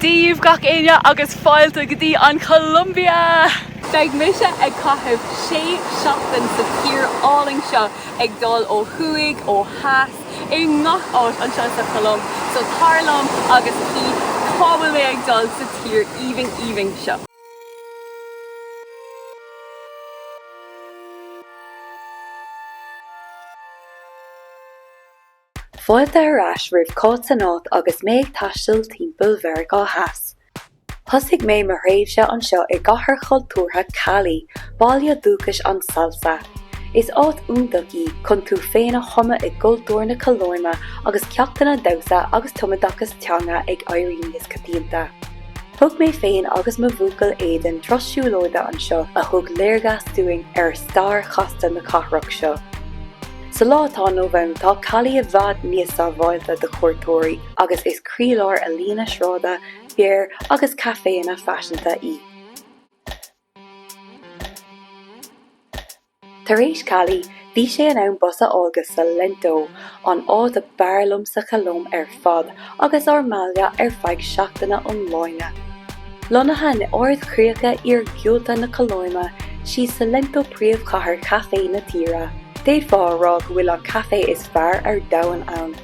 daoibh gach éinne agus fáilte go dtí an Colombia! Beidh mise ag caitheamh sé seachtain sa tír álainn seo, ag dul ó thuaidh, ó theas, i ngach áit anseo sa Cholóim, so tar liom agus chí cá bhfuil mé ag dul sa tír aoibhinn aoibhinn seo! Fáilte ar ais roimh Cad É an Áit agus mé ag taisteal timpeall Mheiriceá Theas. Thosaigh mé mo thréimhse anseo i gcathair chultúrtha Cali, baile dúchais an Salsa. Is áit iontach í chun tú féin a thumadh i gcultúr na Colóime agus ceachtanna damhsa agus tumoideachas teanga ag éirí níos coitianta. Thug mé féin agus mo bhuachaill Aiden turas siúlóide anseo a thug léargas dúinn ar stair chasta na cathrach seo. Sa lá atá inniu ann, tá Cali i bhfad níos sábháilte do chuairteoirí agus is croílár ealaíne sráide, beár agus caiféanna faiseanta í. Tar éis Cali, bhí sé in am bus a fháil go Salento, an áit ab fhearr liom sa Cholóim ar. fad agus ár mbaile ar feadh seachtaine iomláine. Lonnaithe in ardchríocha iargúlta na Colóime, sí Salento príomhchathair chaife na tíre. D'fhéadfá a rá go bhfuil an caifé is fearr ar domhan ann.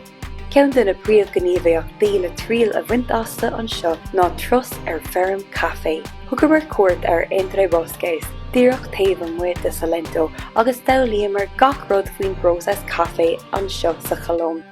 Ceann de na príomhghníomhaíochtaí le triail a bhaint astu anseo ná turas ar feirm caife. Thugamar cuairt ar Entre Bosques, díreach taobh amuigh de Salento, agus d'fhoghlaíomar gach rud faoin bpróiseas caife anseo sa Cholóim.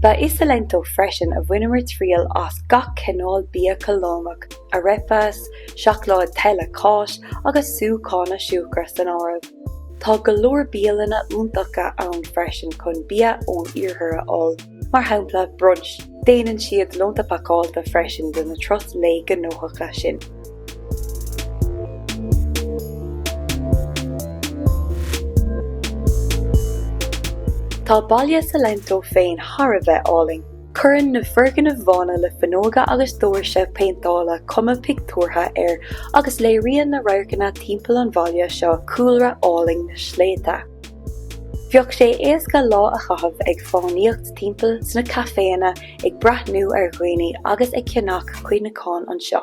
Ba i Salento freisin a bhaineamar triail as gach cineál bia Colómach, arepas, seacláid te le cáis agus sú cána siúcra san áireamh. Tá go leor bialanna iontacha ann freisin chun bia ón iarthar a fháil, mar shampla Brunch, déanann siad lónta pacáilte freisin do na turais lae gnóthacha sin. Tá baile Salento féin thar a bheith álainn. Cuireann na foirgnimh bhána le fuinneoga agus dóirse péinteála cuma pictiúrtha air agus léiríonn na radharcanna timpeall an bhaile seo cúlra álainn na sléite. Bheadh sé éasca lá a chaitheamh ag fánaíocht timpeall sna caiféanna, ag breathnú ar dhaoine agus ag ceannach cuimhneacháin anseo.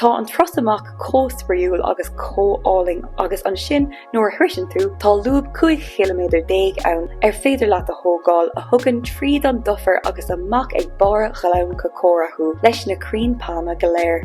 Tá an turas amach chomh spraíúil agus chomh álainn agus ansin nuair a shroiseann tú, tá lúb 15 chiliméadar ann ar féidir leat a thógáil a thugann tríd an dufair agus amach ag barr Ghleann Cocora thú leis na crainn pailme go léir.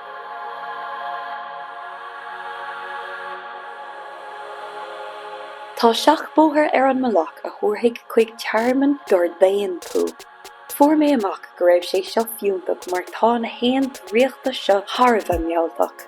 Tá seachbhóthar ar an mbealach a thabharfaidh chuig tearmann dordéan tú. Fuair mé amach go raibh sé seo fiúntach mar tá na héin dhraíochta seo thar a bheith mealltach.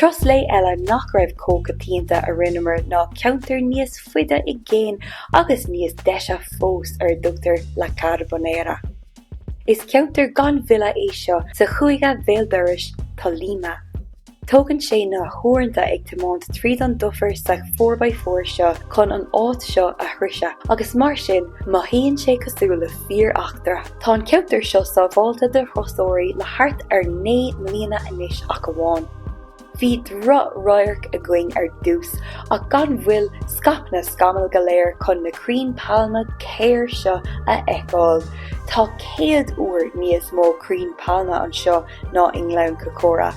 Turas lae eile nach raibh chomh coitianta a rinneamar ná ceantar níos faide i gcéin agus níos deise fós ar a dtugtar La Carbonera. Is ceantar gan mhilleadh é seo sa chúige bhéal dorais, Tolima. Tógann sé na huaireanta ag tiomáint tríd an dufair sa four by four seo chun an áit seo a shroiseadh agus mar sin mothaíonn sé cosúil le fíor-eachtra. Tá an ceantar seo sábháilte do thurasóirí le thart ar 9 mbliana anois ach amháin. Bhí droch-radharc againn ar dtús ach gan mhoill scaip na scamaill go léir chun na crainn pailme céir seo a fheiceáil. Tá céad uair níos mó crainn pailme anseo ná i nGleann Cocora.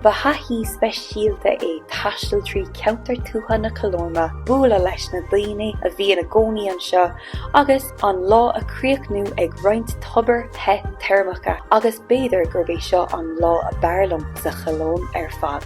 Ba thaithí speisialta é taisteal trí cheantar tuaithe na Colóime, bualadh leis na daoine a bhí ina gcónaí anseo agus an lá a chríochnú ag roinnt tobair the teirmeacha agus b'fhéidir gurb é seo an lá a b'fhearr liom sa Cholóim ar fad.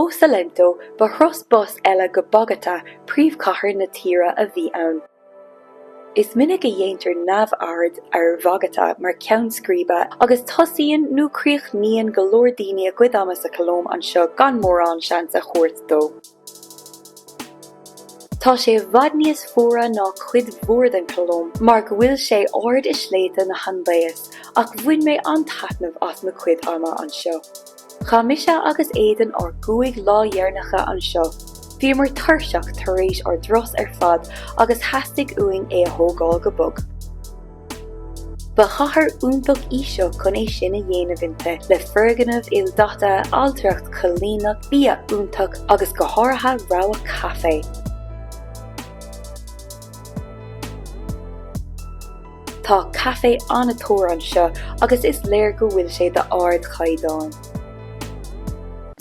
Ó Salento ba thuras bus eile go Bogotá, príomhchathair na tíre, a bhí ann. Is minic a dhéantar neamhaird ar Bhogotá mar cheann scríbe agus tosaíonn nó críochnaíonn go leor daoine a gcuid ama sa Cholóim anseo gan mórán seans a thabhairt dó. Tá sé i bhfad níos fuaire ná cuid mhór den Cholóim mar go bhfuil sé ard i sléibhte na hAndes, ach bhain mé an-taitneamh as mo chuid ama anseo. Chaith mise agus Aidan ár gcúig lá dheireanacha anseo. Bhíomar tuirseach tar éis ár dturas ar fad agus theastaigh uainn é a thógáil go bog. Ba chathair iontach í seo chun é sin a dhéanamh inti, le foirgneamh ildaite, ailtireacht coilíneach, bia iontach agus go háirithe rogha caifé. Tá caife an-tóir anseo agus is léir go bhfuil sé d'ardchaighdeán.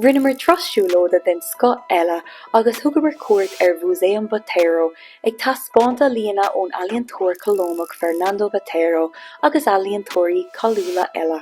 Rinneamar turas siúlóide den scoth eile agus thugamar cuairt ar Mhúsaem Botero, ag taispeáint ealaíon ón ealaíontóir Colómach Fernando Botero agus ealaíontóirí cáiliúla eile.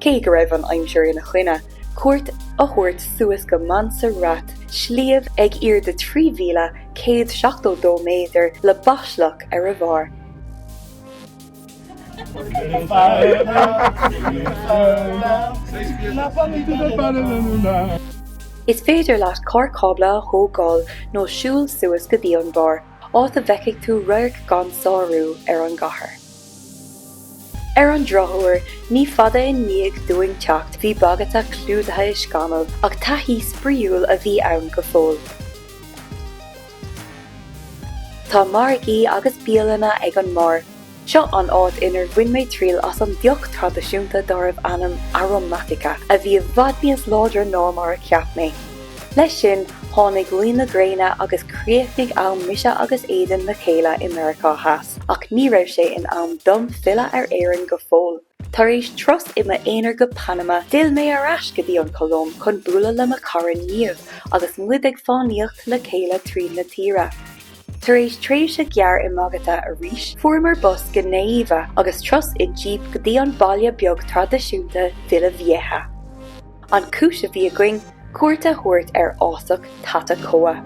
Cé go raibh an aimsir ina choinne cuairt a thabhairt suas go Monserrate, sliabh ag airde 3,172 méadar le baisleac ar a bharr, is féidir leat carr cábla a thógáil nó siúl suas go dtí an barr, áit a bhfeicfidh tú radhairc gan sárú ar an gcathair. Ar an drochuair, ní fada i ndiaidh dúinn teacht bhí Bogotá clúdaithe i scamall, ach taithí spraíúil a bhí ann go fóill. Tá margaí agus bialanna ag an mbarr. Seo an áit inar bhain mé triail as an deoch traidisiúnta darbh ainm Aromatica, a bhí i bhfad níos láidre ná mar a cheap mé. Leis sin, tháinig luí na gréine agus chríochnaigh am mise agus Aidan le chéile i Meiriceá Theas, ach ní raibh sé in am dom filleadh ar Éirinn go fóill. Tar éis turas i m'aonar go Panama, d'fhill mé ar ais go dtí an Cholóim chun bualadh le mo chara Niamh agus muid ag fánaíocht le chéile tríd na tíre. Tar éis tréimhse ghearr i mBogotá arís, fuaireamar bus go Neiva agus turas i jíp go dtí an baile beag traidisiúnta Villavieja. An cúis a bhí againn cuairt a thabhairt ar fhásach Tatacoa.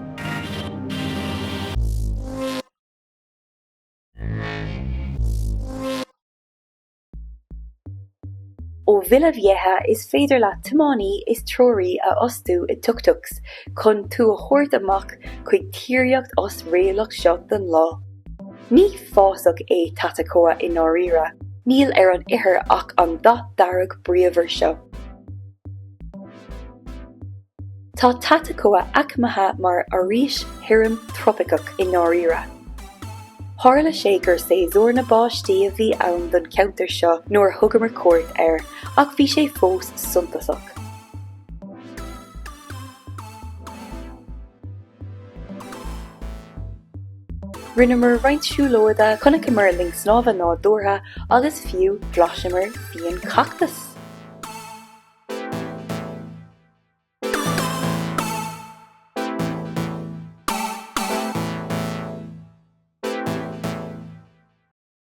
Ó Villavieja is féidir leat tiománaí is treoraí a fhostú i tuk-tuks chun tú a thabhairt amach chuig tírdhreach osréalach seo don lá. Ní fásach é Tatacoa i ndáiríre, níl ar an ithir ach an dath dearg bríomhar seo. Tá Tatacoa aicmithe mar Fhoraois Thirim Thropaiceach i ndáiríre. Tharla sé gur Séasúr na Báistí a bhí ann don cheantar seo nuair a thugamar cuairt air, ach bhí sé fós suntasach. Rinneamar roinnt siúlóide, chonaiceamar linn snámha nádúrtha agus fiú bhlaiseamar fíon cachtas!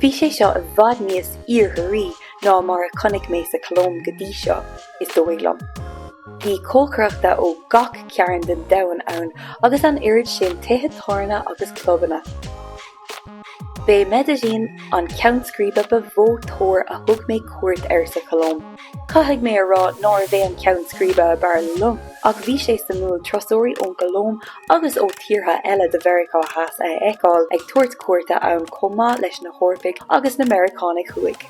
Bhí sé seo i bhfad níos iartharaí ná mar a chonaic mé sa Cholóim go dtí seo, is dóigh liom. Bhí cócaireachta ó gach cearn den domhan ann agus an oiread sin tithe tábhairne agus clubanna. B'é Medellín an ceann scríbe ba mhó tóir a thug mé cuairt air sa Cholóim. Caithfidh mé a rá nárbh é an ceann scríbe ab fhearr liom, ach bhí sé suimiúil turasóirí ón gColóim agus ó thíortha eile de Mheiriceá Theas a fheiceáil ag tabhairt cuairte ann chomh maith leis na hEorpaigh agus na Meiriceánaigh Thuaidh.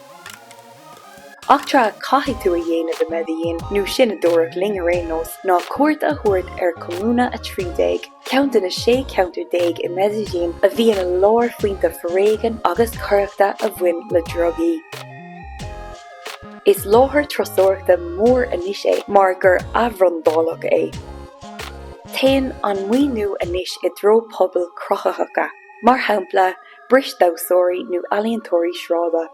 Eachtra a chaithfidh tú a dhéanamh i Medellín, nó sin a dúradh linn ar aon nós, ná cuairt a thabhairt ar Comuna 13, ceann de na sé cheantar déag i Medellín a bhí ina lárphointe foréigin agus coireachta a bhain le drugaí. Is láthair turasóireachta mór anois é mar gur athbhrandáladh é. Téann an maoiniú anois i dtreo pobail chruthaitheacha, mar shampla, brisdamhsóirí nó ealaíontóirí sráide.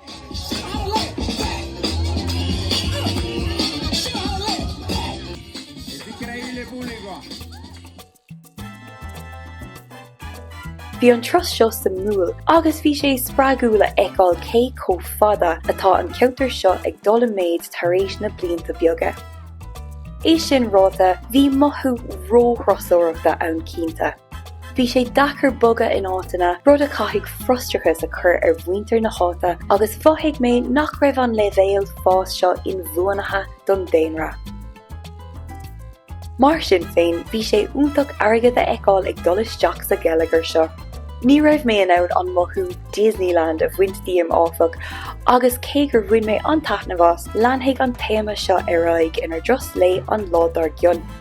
Bhí an turas seo suimiúil agus bhí sé spreagúil a fheiceáil cé chomh fada atá an ceantar seo ag dul i méid tar éis na blianta beaga. É sin ráite, bhí mothú róthurasóireachta ann cinnte. Bhí sé deacair bogadh in áiteanna, rud a chaithfidh frustrachas a chur ar mhuintir na háite agus mhothaigh mé nach raibh an leibhéal fáis seo inbhuanaithe don daonra. Mar sin féin, bhí sé iontach airgead a fheiceáil ag dul isteach sa gheilleagar seo. Ní raibh mé in ann an mothú Disneyland a bhaint díom, áfach, agus cé gur bhain mé an-taitneamh as, leanfaidh an téama seo ar aghaidh inár dturas lae an lá dár gcionn.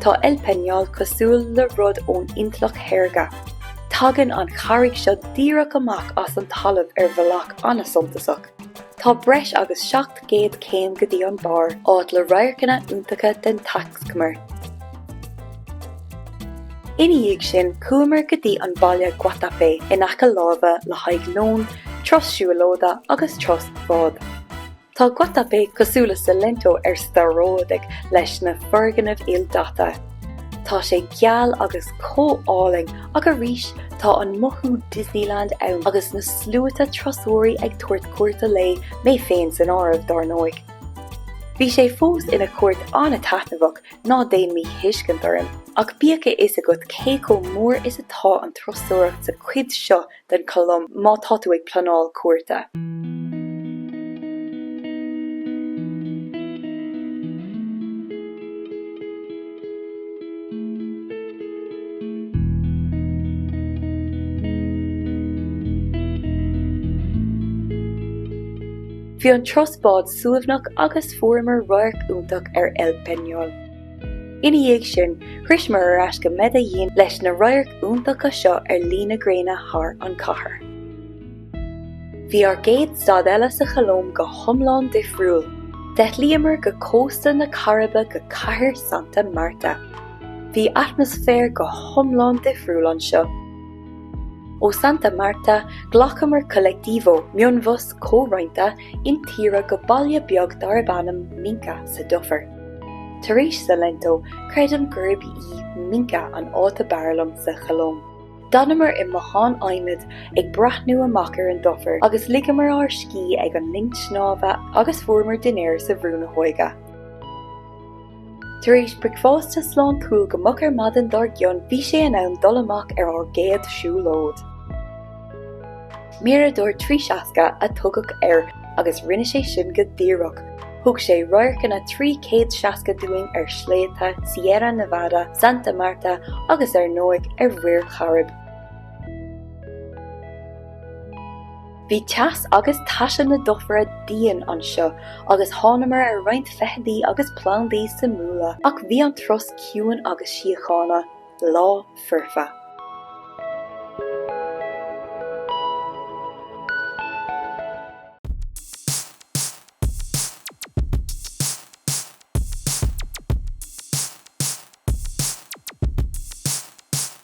Tá El Peñol cosúil le rud ón intleacht shaorga. Tagann an charraig seo díreach amach as an talamh ar bhealach an-suntasach. Tá breis agus 700 céim go dtí an barr, áit le radharcanna iontacha den taiscumar. Ina dhiaidh sin chuamar go dtí an baile Guatapé in aice láimhe le haghaidh lón, turas siúlóide agus turas bád. Tá Guatapé cosúil le Salento ar stéaróidigh leis na foirgnimh ildaite. Tá sé geal agus chomh álainn ach arís tá an mothú Disneyland ann agus na sluaite turasóirí ag tabhairt cuairte lae, mé féin san áireamh, dár ndóigh. Bhí sé fós ina chuairt an-taitneamhach, ná déan míthuiscint orm, ach bíodh a fhios agat cé chomh mór is atá an turasóireacht sa chuid seo den Cholóim má tá tú ag pleanáil cuairte. Bhí an turas báid suaimhneach agus fuaireamar radharc iontach ar El Peñol. Ina dhiaidh sin, shroiseamar ar ais go Medellín leis na radhairc iontacha seo ar luí na gréine thar an cathair. Bhí ár gcéad stad eile sa Cholóim go hiomlán difriúil. D'eitlíomar go cósta na Cairibe go cathair Santa Marta. Bhí atmaisféar go hiomlán difriúil anseo. Ó Santa Marta, ghlacamar Colectivo, mionbhus comhroinnte intíre go baile beag darb ainm Minca sa dufair. Tar éis Salento, creidim gurb í Minka an áit ab fhearr liom sa Cholóim. D'fhanamar i mbothán adhmaid ag breathnú amach ar an dufair agus ligeamar ár scíth ag an linn snámha agus fuaireamar dinnéar sa bhrú na hóige. Tar éis bricfeasta sláintiúil go moch ar maidin dár gcionn bhí sé in am dul amach ar ár gcéad siúlóid. Mirador 360 a tugadh air agus rinne sé sin go díreach. Thug sé radharcanna 360 dúinn ar shléibhte Sierra Nevada, Santa Marta agus ar ndóigh ar Mhuir Chairib. Bhí teas agus taise na dufaire dian anseo agus thángamar ar roinnt feithidí agus plandaí suimiúla, ach bhí an turas ciúin agus síochánta. Lá foirfe.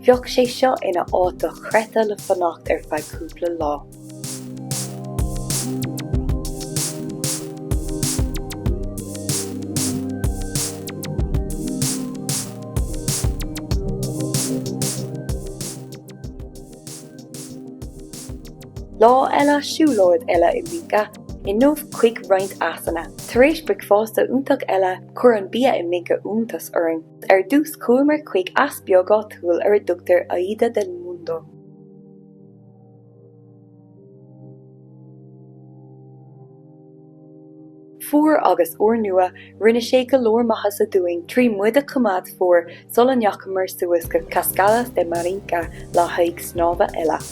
Bheadh sé seo ina áit dochreidte le fanacht ar feadh cúpla lá. Lá eile, siúlóid eile i Minca, inniu chuig roinnt easanna. Tar éis bricfeasta iontach eile, chuir an bia i Minca iontas orainn. Ar dtús chuamar chuig eas beag áitiúil ar a dtugtar Oído del Mundo. Fuar agus úrnua, rinne sé go leor maitheasa dúinn trí muid a choimeád fuar sula ndeachamar suas go Cascadas de Marinka le haghaidh snámha eile.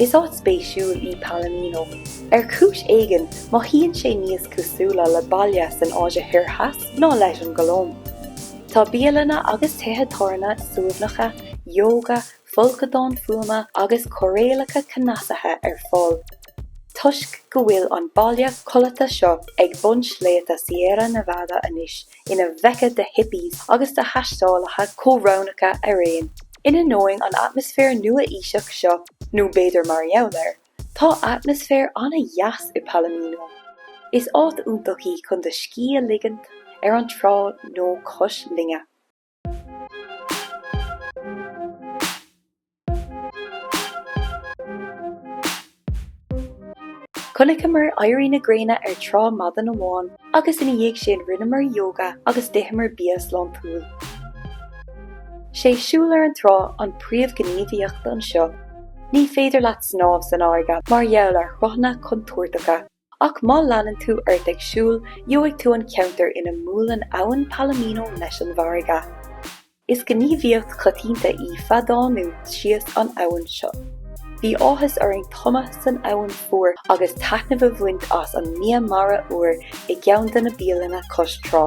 Is áit spéisiúil í Palomino. Ar chúis éigin, mothaíonn sé níos cosúla le baile san Áise Thoir Theas ná leis an gColóim. Tá bialanna agus tithe tábhairne suaimhneacha, ióga, folcadáin fuaime agus cóireálacha cneasaithe ar fáil. Toisc go bhfuil an baile codlata seo ag bun sléibhte Sierra Nevada anois, ina mheice de hippies agus de thaistealaithe comhroghnacha araon. In ainneoin an atmaisféir nua-aoiseach seo, nó b'fhéidir mar gheall air, tá atmaisféar an-deas i Palomino. Is áit iontach í chun do scíth a ligint ar an trá nó cois linne. Chonaiceamar éirí na gréine ar trá maidin amháin agus ina dhiaidh sin rinneamar ióga agus d'itheamar bia sláintiúil. Sé siúl ar an trá an príomhghníomhaíocht anseo. Ní féidir leat snámh san fharraige mar gheall ar shruthanna contúirteacha. Ach má leanann tú ort ag siúl, gheobhaidh tú an ceantar ina mbuaileann Abhainn Palomino leis an bhfarraige. Is gníomhaíocht choitianta í feadánú síos an abhainn seo. Bhí áthas orainn tumadh san abhainn fuar agus taitneamh a bhaint as an mbia mara úr i gceann de na bialanna cois trá.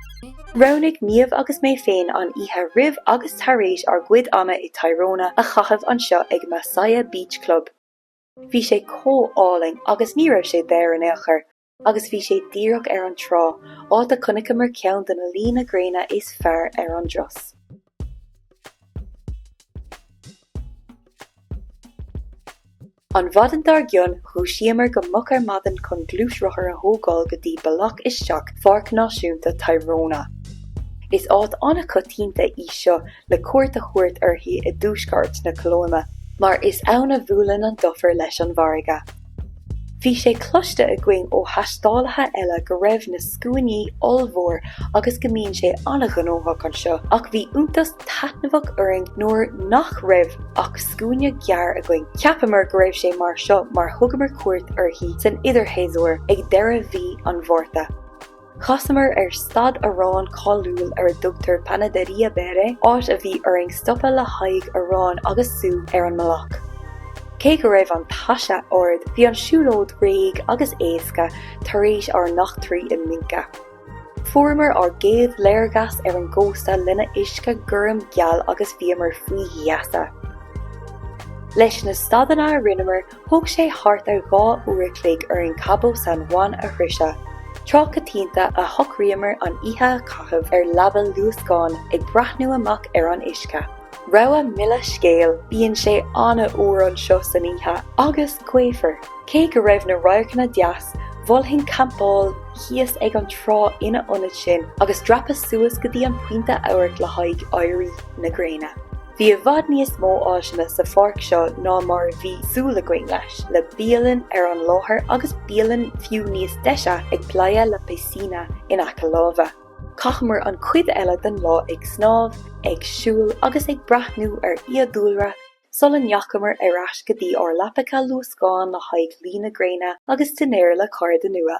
Roghnaigh Niamh agus mé féin an oíche roimh agus tar éis ár gcuid ama i Tayrona a chaitheamh anseo ag Masaya Beach Club. Bhí sé chomh álainn agus ní raibh sé daor in aon chor, agus bhí sé díreach ar an trá, áit a chonaiceamar ceann de na luí na gréine is fearr ar an dturas. An mhaidin dár gcionn, dhúisíomar go moch ar maidin chun gluaisrothar a thógáil go dtí bealach isteach Pháirc Náisiúnta Tayrona. Is áit an-choitianta í seo le cuairt a thabhairt uirthi i dtuaisceart na Colóime, mar is ann a bhuaileann an dufair leis an bhfarraige. Bhí sé cloiste againn ó thaistealaithe eile go raibh na scuainí ollmhór agus go mbíonn sé an-ghnóthach anseo, ach bhí iontas taitneamhach orainn nuair nach raibh ach scuaine gearr againn. Cheapamar go raibh sé mar seo mar thugamar cuairt uirthi san idirshéasúr ag deireadh mhí an Mhárta. Chasamar ar stad arán cáiliúil ar a dtugtar Panadería Bere, áit a bhí orainn stopadh le haghaidh arán agus sú ar an mbealach. Cé go raibh an taise ard, bhí an siúlóid réidh agus éasca tar éis ár n-eachtraí i Minca. Fuaireamar ár gcéad léargas ar an gcósta lena uisce gorm geal agus bhíomar faoi gheasa. Leis na stadanna a rinneamar thóg sé thart ar dhá uair a chloig orainn Cabo San Juan a shroiseadh, tráth coitianta a shocraíomar an oíche a chaitheamh ar leaba luascáin ag breathnú amach ar an uisce. Rogha millte scéal, bíonn sé an-fhuar anseo san oíche agus gaofar. Cé go raibh na radharcanna deas, mholfainn campáil thíos ag an trá ina ionad sin agus dreapadh suas go dtí an pointe amhairc le haghaidh éirí na gréine. Bhí i bhfad níos mó áiseanna sa pháirc seo ná mar a bhí súil againn leis, le bialann ar an láthair agus bialann fiú níos deise ag Playa La Piscina in aice láimhe. Chaitheamar an chuid eile den lá ag snámh, ag siúl agus ag breathnú ar fhiadhúlra sula ndeachamar ar ais go dtí ár leapacha luascáin le haghaidh luí na gréine agus dinnéar le cairde nua.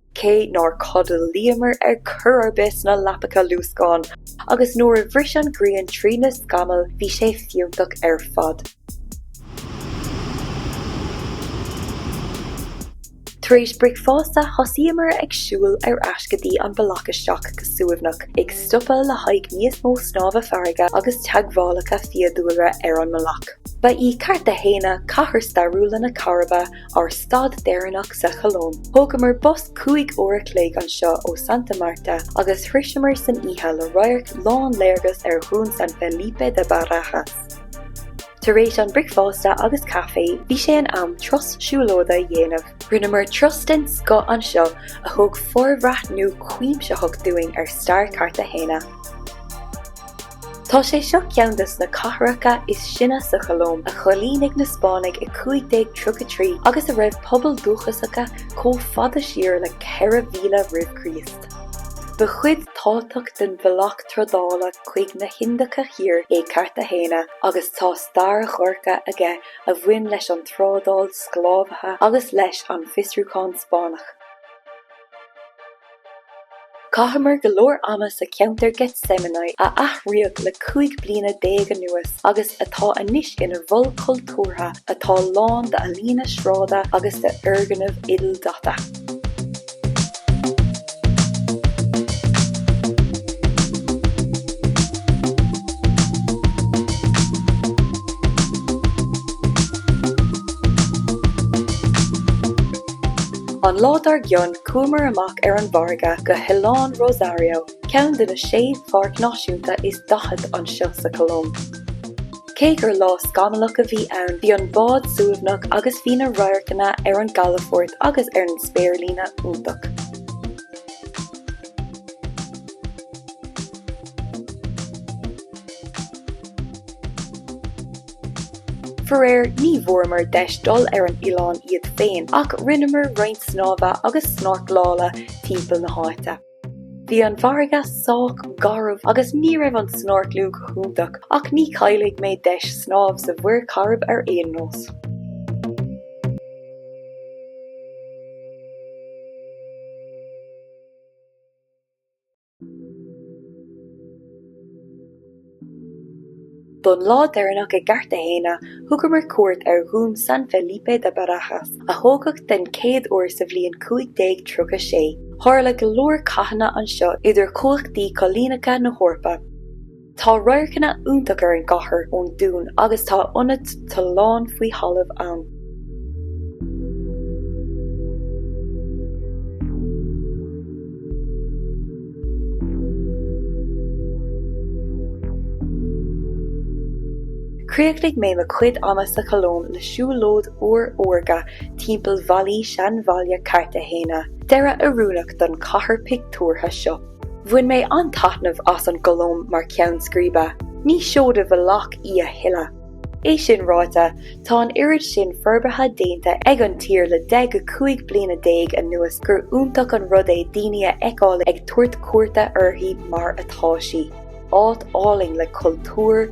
Cé nár chodlaíomar ar chor ar bith sna leapacha luascáin, agus nuair a bhris an ghrian trí na scamaill bhí sé fiúntach ar fad. Tar éis bricfeasta thosaíomar ag siúl ar ais go dtí an bealach isteach go suaimhneach, ag stopadh le haghaidh níos mó snámha farraige agus teagmhálacha fiadhúlra ar an mbealach. Ba í Cartagena cathair stairiúla na Cairibe, ár stad deireanach sa Cholóim. Thógamar bus cúig uair a chloig anseo ó Santa Marta agus shroiseamar san oíche le radharc lán léargas ar Dhún San Felipe de Barajas. Tar éis an bricfeasta agus caife, bhí sé in am turas siúlóide a dhéanamh. Rinneamar turas den scoth anseo a thug forbhreathnú cuimsitheach dúinn ar stair Cartagena. Tá sé seo ceann de na cathracha is sine sa Cholóim a choilínigh na Spáinnigh i 1533 agus a raibh pobail dúchasacha chomh fada siar le 4000 roimh Chríost. Ba chuid tábhachtach den bhealach trádála chuig na hIndiacha Thiar é Cartagena agus tá stair dhorcha aige a bhain leis an trádáil sclábhaithe agus leis an bhfiosrúchán Spáinneach. Chaitheamar go leor ama sa cheantar Getsemaní a athraíodh le cúig bliana déag anuas agus atá anois ina mhol cultúrtha atá lán d'ealaíona sráide agus d'fhoirgnimh ildaite. An lá dár gcionn chuamar amach ar an bhfarraige go hOileán Rosario, ceann de na sé pháirc náisiúnta is daichead anseo sa Cholóim. Cé gur lá scamallach a bhí ann bhí an bád suaimhneach agus bhí na radharcanna ar an gcalafort agus ar an spéirlíne iontach. Faraor, ní bhfuaireamar deis dul ar an oileán iad féin ach rinneamar roinnt snámha agus snorclála timpeall na háite. Bhí an bhfarraige sách garbh agus ní raibh an snorclú go hiontach ach ní chaillfidh mé deis snámh sa Mhuir Chairib ar aon nós. Don lá deireanach i gCartagena, thugamar cuairt ar dhún San Felipe de Barajas, a thógadh den chéad uair sa bhliain 1536. Tharla go leor cathanna anseo idir chumhachtaí coilíneacha na hEorpa. Tá radharcanna iontach ar an gcathair ón dún agus tá ionad tollán faoi thalamh ann. Chríochnaigh mé mo chuid ama sa Cholóim le siúlóid uair órga timpeall bhallaí Seanbhaile Cartagena, deireadh oiriúnach don chathair pictiúrtha seo. Bhain mé an-taitneamh as an gColóim mar cheann scríbe. Ní seoid i bhfolach í a thuilleadh. É sin ráite, tá an oiread sin forbartha déanta ag an tír le deich go cúig bliana déag anuas gur iontach an rud é daoine a fheiceáil ag tabhairt cuairte uirthi mar atá sí, áit álainn le cultúr,